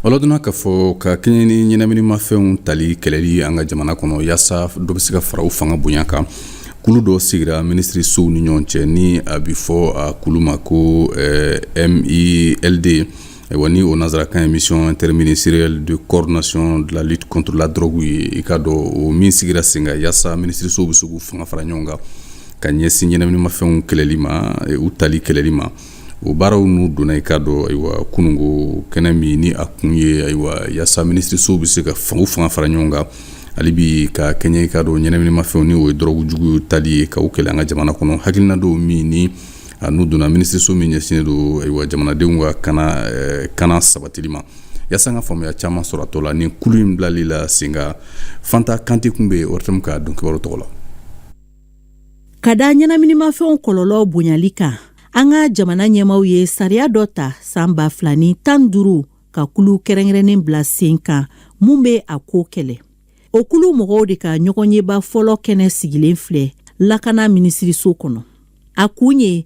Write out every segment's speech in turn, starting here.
Wala donna k'a fɔ ka kɛɲɛ ni ɲɛnaminimafɛnw tali kɛlɛli an ka jamana kɔnɔ yaasa dɔ bɛ se ka fara u fanga bonya kan kulu dɔ sigira minisirisow ni ɲɔgɔn cɛ ni a bɛ fɔ a kulu ma ko MILD ayiwa ni o nansarakan ye mission interministérielle de coordination de la lutte contre la drogue ye i k'a dɔn o min sigira sen kan yaasa minisirisow bɛ se k'u fanga fara ɲɔgɔn kan ka ɲɛsin ɲɛnaminimafɛnw kɛlɛli ma u tali kɛlɛli ma o baaraw n'u donna i k'a dɔn ayiwa kunungo kɛnɛ min ni a kun ye ayiwa yaasa minisirisow bɛ se ka fanga fanga fara ɲɔgɔn kan hali bi ka kɛɲɛ i k'a dɔn ɲɛnaminimafɛnw ni o ye dɔrɔgu jugu tali ye k'a kɛlɛ an ka jamana kɔnɔ hakilina dɔw min ni n'u donna minisiriso min ɲɛsinnen don ayiwa jamanadenw ka kana eh, kana sabatili ma yaasa an ka faamuya caman sɔrɔ a tɔ la ni kulu in bilali la sen kan Fanta Kante tun bɛ yen ORTM ka don kibaru tɔgɔ la ka da ɲɛnaminimafɛnw kɔlɔlɔ bonyali kan an ka jamana ɲɛmaw ye sariya dɔ ta san ba fila ni tan duuru ka kulu kɛrɛnkɛrɛnnen bila sen kan mun bɛ a ko kɛlɛ o kulu mɔgɔw de ka ɲɔgɔnyeba fɔlɔ kɛnɛ sigilen filɛ lakana minisiriso kɔnɔ a kun ye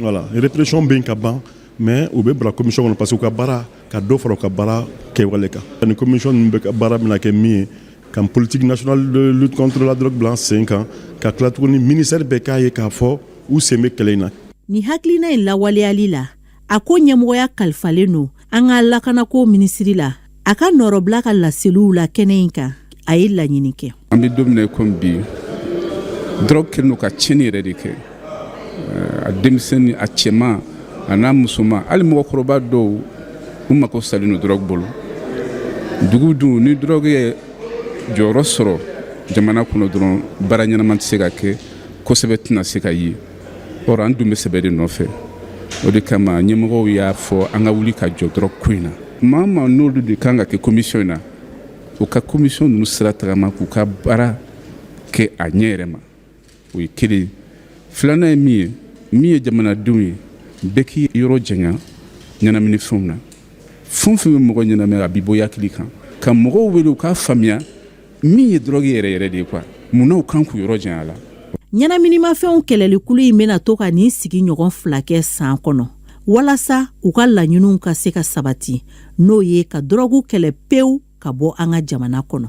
Wala répression bɛ yen ka ban mɛ u bɛ bila komisɔn kɔnɔ parce que u ka baara ka dɔ fara u ka baara kɛwale kan ani komisɔn ninnu bɛɛ ka baara bɛna kɛ min ye ka politique nationale de lutte contre la drogue bila sen kan ka tila tuguni ministère bɛɛ k'a ye k'a fɔ u sen bɛ kɛlɛ in na nin hakilina in lawaleyali la a ko ɲɛmɔgɔya kalifalen don an ka lakanako minisiri la a ka nɔrɔbila ka laseliw la kɛnɛ in kan a ye laɲini kɛ an bɛ don min na i ko bi dɔrɔgu kɛlen don ka tiɲɛni yɛrɛ de kɛ eh, a denmisɛnnin a cɛman a n'a musoman hali mɔgɔkɔrɔba dɔw u mako salen don dɔrɔgu bolo dugu dun ni dɔrɔgu ye jɔyɔrɔ sɔrɔ jamana kɔnɔ dɔrɔn baara ɲɛnama tɛ se ka kɛ ko sɛbɛ tɛna se ka ye Or an dun bɛ sɛbɛ de nɔfɛ o de kama ɲɛmɔgɔw y'a fɔ an ka wuli ka jɔ dɔrɔgu ko in na maa ma n'olu de kan ka kɛ komisɔn in na u ka komisɔn ninnu sira tagama k'u ka baara kɛ a ɲɛ yɛrɛ ma o ye kelen filanan ye min ye min ye jamanadenw ye bɛɛ k'i yɔrɔ janya ɲɛnaminifɛnw na fɛn fɛn bɛ mɔgɔ ɲɛnamini a b'i bɔ i hakili kan ka mɔgɔw wele u k'a faamuya min ye dɔrɔgu yɛrɛ yɛrɛ de ye kuwa munna u kan k'u yɔrɔ janya a la ɲɛnaminimafɛnw kɛlɛlikulu in bɛna to ka nin sigi ɲɔgɔn fila kɛ san kɔnɔ walasa u ka laɲiniw ka se ka sabati n'o ye ka dɔrɔgu kɛlɛ pewu ka bɔ an ka jamana kɔnɔ